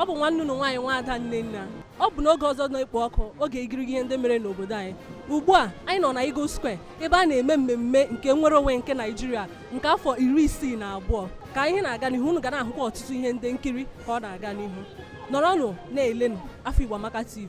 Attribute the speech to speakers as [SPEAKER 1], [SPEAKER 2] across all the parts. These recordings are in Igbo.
[SPEAKER 1] ọ bụ nwanne unu nwaanyị nwaada Nnenna ọ bụ n'oge ọzọ na-ekpo ọkụ oge igirigi ihe ndị mere n'obodo anyị ugbu a anyị nọ na Eagle Square ebe a na-eme mmemme nke nnwere onwe nke Naijiria nke afọ iri isii na abụọ ka ihe na-aga n'ihu unu ga na-ahụkwa ọtụtụ ihe ndị nkiri ka ọ na-aga n'ihu nọrọnụ na-elenụ Afọ Igbo Amaka TV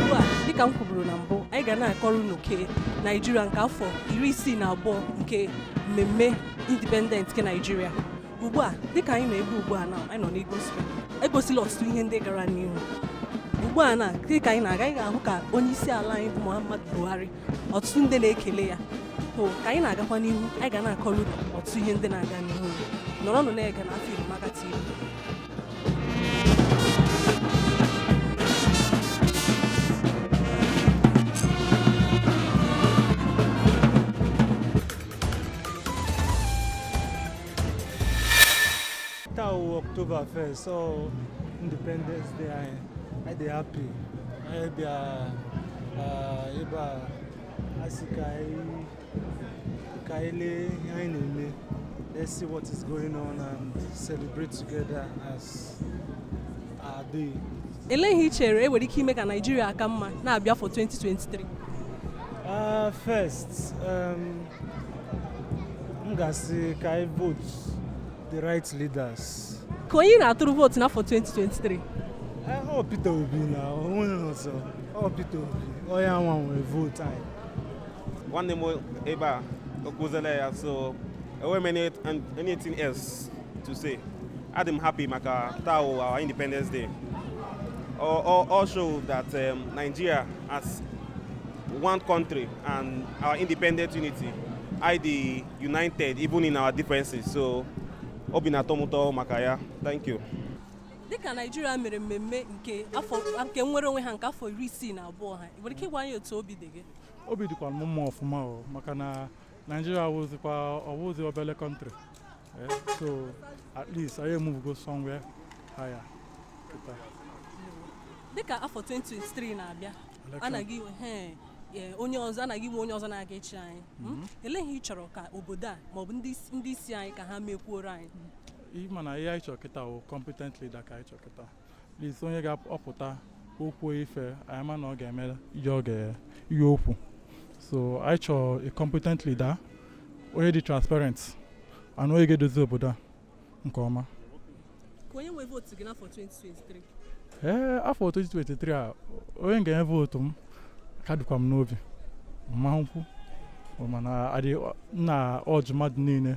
[SPEAKER 1] ugbu a dịka m kwuburu na mbụ anyị ga na-akọrọ unu nke naijiria nke afọ iri isii na abụọ nke mmemme independent nke naijiria ugbu a dịka anyị nọ ebe ugbu a na anyị nọ n'Eagle Square egosila ọtụtụ ihe ndị gara n'ihu ugbu a na dịka anyị na-aga anyị ga-ahụ ka onye isi ala anyị bụ Muhammadu Buhari ọtụtụ ndị na-ekele ya o ka anyị na-agakwa n'ihu anyị ga na-akọrọ unu ọtụtụ ihe ndị na-aga n'ihu nọrọnụ na-ege na afọ Igbo Amaka TV
[SPEAKER 2] October 1st, so Independence Day, I, I dey happy. I be a, uh, uh, Asikai. ka anyị lee ihe anyị na-eme let's see what is going on and celebrate together as our day Elee ihe i chere
[SPEAKER 1] e nwere ike ime ka Naijiria aka mma na-abịa afọ 2023? Uh,
[SPEAKER 2] first, um, m ga-asị ka anyị vote the right leaders. Ka onye ị
[SPEAKER 1] na-atụrụ vootu n'afọ 2023? Eh, Ọ
[SPEAKER 2] Peter Obi na onweghị ọzọ. Ọ Peter Obi, ọ ya nwa nwere vote anyị.
[SPEAKER 3] nwanne m ebe a o kwuziele ya so enweghị m any- anything else to say adị m happy maka taa wụ our independence day all, all, all show that um, nigeria as one country and our independent unity i dey united even in our differences so obi na-atọ m ụtọ maka ya thank you dịka
[SPEAKER 1] naijiria mere mmemme nke afọ nke nnwere onwe ha nke afọ iri isii na abụọ ha ị nwere ike ịgwa anyị otu obi dị gị obi dịkwa m mma
[SPEAKER 2] ọfụma o maka na naijiria awụzikwa ọ wụzi obele country Eh, so at least anyị emuvugo somewhere higher
[SPEAKER 1] kịta dịka afọ 2023 na-abịa Election. a na-aga inwe he, e, onye ọzọ a na-aga inwe onye ọzọ na-aga ịchị anyị Mm? elee ihe ị chọrọ ka obodo a maọbụ ndị isi- ndị isi anyị ka ha mekwuoro anyị ị ma na
[SPEAKER 2] ihe anyị chọrọ kịta wụ competent leader ka anyị chọrọ kịta at least onye ga-apụta o kwuo ife anyị ma na ọ ga-eme ihe ọ ga- ihe o kwu so anyị chọrọ a competent leader onye dị transparent and onye ga-edozi obodo a nke
[SPEAKER 1] ọma onye nwe vootu gị n'afọ 2023
[SPEAKER 2] ee afọ 2023 a onye m ga-enye vootu m ka dịkwa m n'obi mmanwụ mana na ọjụ mmadụ niile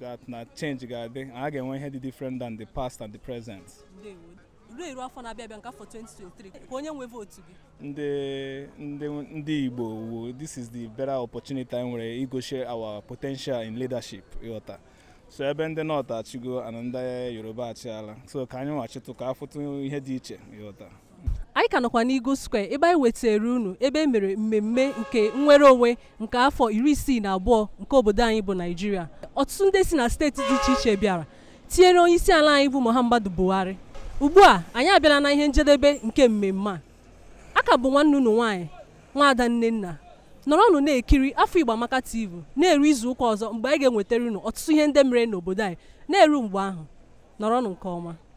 [SPEAKER 4] that na change ga-adị na a ga-enwe ihe dị different than the past and the present ndewo
[SPEAKER 1] ruo eru afọ na-abịa abịa nke afọ 2023 ka onye nwe vootu gị ndị ndị
[SPEAKER 4] ndị igbo wu this is the better opportunity anyị nwere igosi our potential in leadership ị ghọta so ebe ndị north achịgo and ndị yoruba achịala so ka anyị nwa chịtụ ka a fụtụ ihe dị iche ị ghọta anyị ka nọkwa
[SPEAKER 1] n'Eagle Square ebe anyị wetara unu ebe e mere mmemme nke nnwere onwe nke afọ iri isii na abụọ nke obodo anyị bụ Naijiria ọtụtụ ndị si na steeti dị iche iche bịara tinyere onye isi ala anyị bụ Muhammadu Buhari ugbu a anyị abịala na ihe njedebe nke mmemme a aka bụ nwanne unu nwaanyị nwaada Nnenna nọrọnụ na-ekiri afọ Igbo Amaka TV na-eru izu ụka ọzọ mgbe anyị ga-enwetara unu ọtụtụ ihe ndị mere n'obodo anyị na-eru mgbe ahụ nọrọnụ nke ọma